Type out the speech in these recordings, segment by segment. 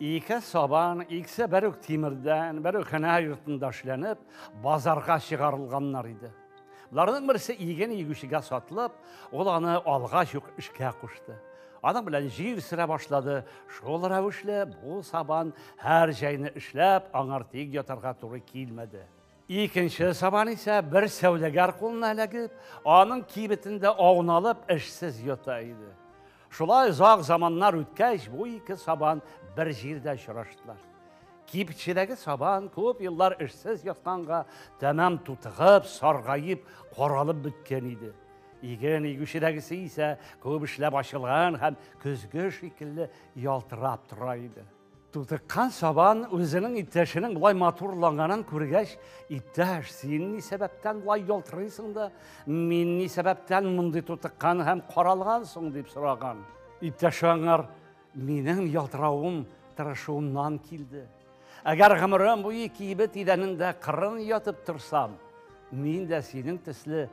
Ике сабан, икесе бер үк тимердән, бер үк һөнәр йортында эшләнеп, базарга чыгарылганнар иде. Боларның берсе иген игүчегә сатылып, ул аны алгач ук эшкә кушты. Аның белән җир сөрә башлады. Шул рәвешле бу сабан һәр җәйне эшләп, аңар тик ятарга туры килмәде. Икенче сабан исә бер сәүдәгәр кулына эләгеп, аның кибетендә ауналып, эшсез йота иде. Шулай озак заманнар үткәч, бу ике сабан бер җирдә очраштылар. Кибетчедәге сабан күп еллар эшсез ятканга, тәмам тутыгып, саргаеп, каралып беткән иде. Иген игүчедәгесе исә күп эшләп ачылган һәм көзге шикелле ялтырап тора иде. Тутыккан сабан үзенең иптәшенең болай матурланганын күргәч, иптәш, син ни сәбәптән болай ялтырыйсың да, мин ни сәбәптән мондый тутыккан һәм каралгансың дип сораган. Иптәш аңар, минем ялтыравым тырышуымнан килде. Әгәр гомерем буе кибет идәнендә кырын ятып торсам, мин дә синең төсле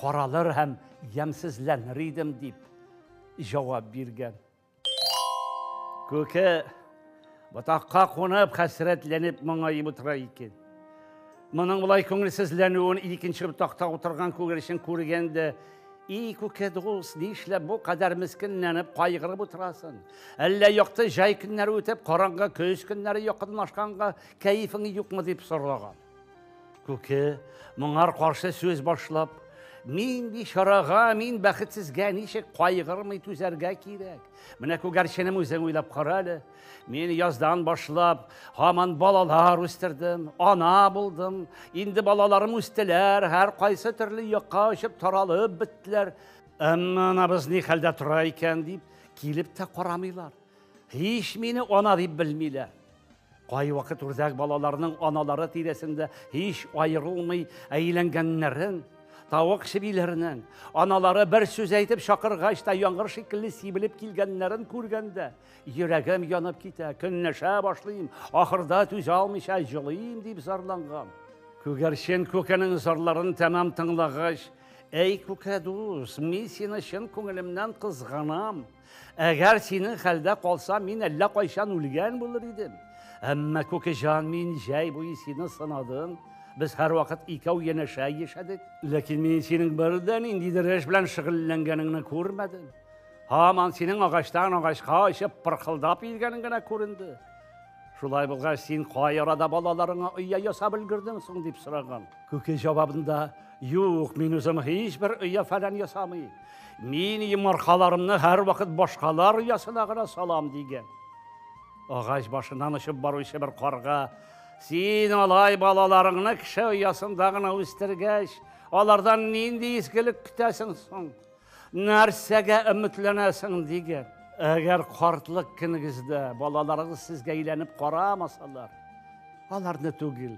каралыр һәм ямсезләнер идем, дип җавап биргән. Күке ботакка кунып, хәсрәтләнеп моңаеп утыра икән. Моның болай күңелсезләнүен икенче ботакта утырган күгәрчен күргән дә, «И, күке дус, ни эшләп бу кадәр мескенләнеп, кайгырып утырасын? Әллә якты җай көннәре үтеп, караңгы көз көннәре якынлашканга кәефең юкмы?» дип сораган. Күке, моңар каршы сүз башлап, мин ди чарага, мин бәхетсезгә ничек кайгырмый түзәргә кирәк. Менә күгәрченем үзең уйлап кара әле. Мин яздан башлап, һаман балалар үстердем, ана булдым. Инде балаларым үстеләр, һәр кайсы төрле якка очып таралып беттеләр. Әмма анабыз ни хәлдә тора икән дип, килеп тә карамыйлар. Һич мине ана дип белмиләр. Кайвакыт үрдәк балаларның аналары тирәсендә һич аерылмый әйләнгәннәрен, тавык чебиләренең аналары бер сүз әйтеп чакыргач та яңгыр шикелле сибелеп килгәннәрен күргәндә, йөрәгем янып китә, көнләшә башлыйм, ахырда түзә алмыйча җылыйм дип зарланган. Күгәрчен күкенең зарларын тәмам тыңлагач, Әй, күкәдус, мин сине чын күңелемнән кызганам. Әгәр синең хәлдә калса, мин әллә кайчан үлгән булыр идем. Әмма Күкеҗан, мин җәй буе сине сынадым. Без һәрвакыт икәү янәшә яшәдек. Ләкин мин синең бер дә ниндидер эш белән шөгыльләнгәнеңне күрмәдем. Һаман синең агачтан агачка очып пырхылдап йөргәнең генә күренде. Шулай булгач, син кай арада балаларыңа оя ясап өлгердең соң дип сораган. Күке җавабында, Юк, мин үзем һичбер оя-фәлән ясамый. Мин йомыркаларымны һәрвакыт башкалар оясына гына салам, дигән. Агач башыннан очып баручы бер карга, Син алай балаларыңны кеше оясында гына үстергәч, алардан нинди изгелек көтәсең соң? Нәрсәгә өметләнәсең, дигән. Әгәр картлык көнегездә балаларыгыз сезгә әйләнеп карамасалар, аларны түгел,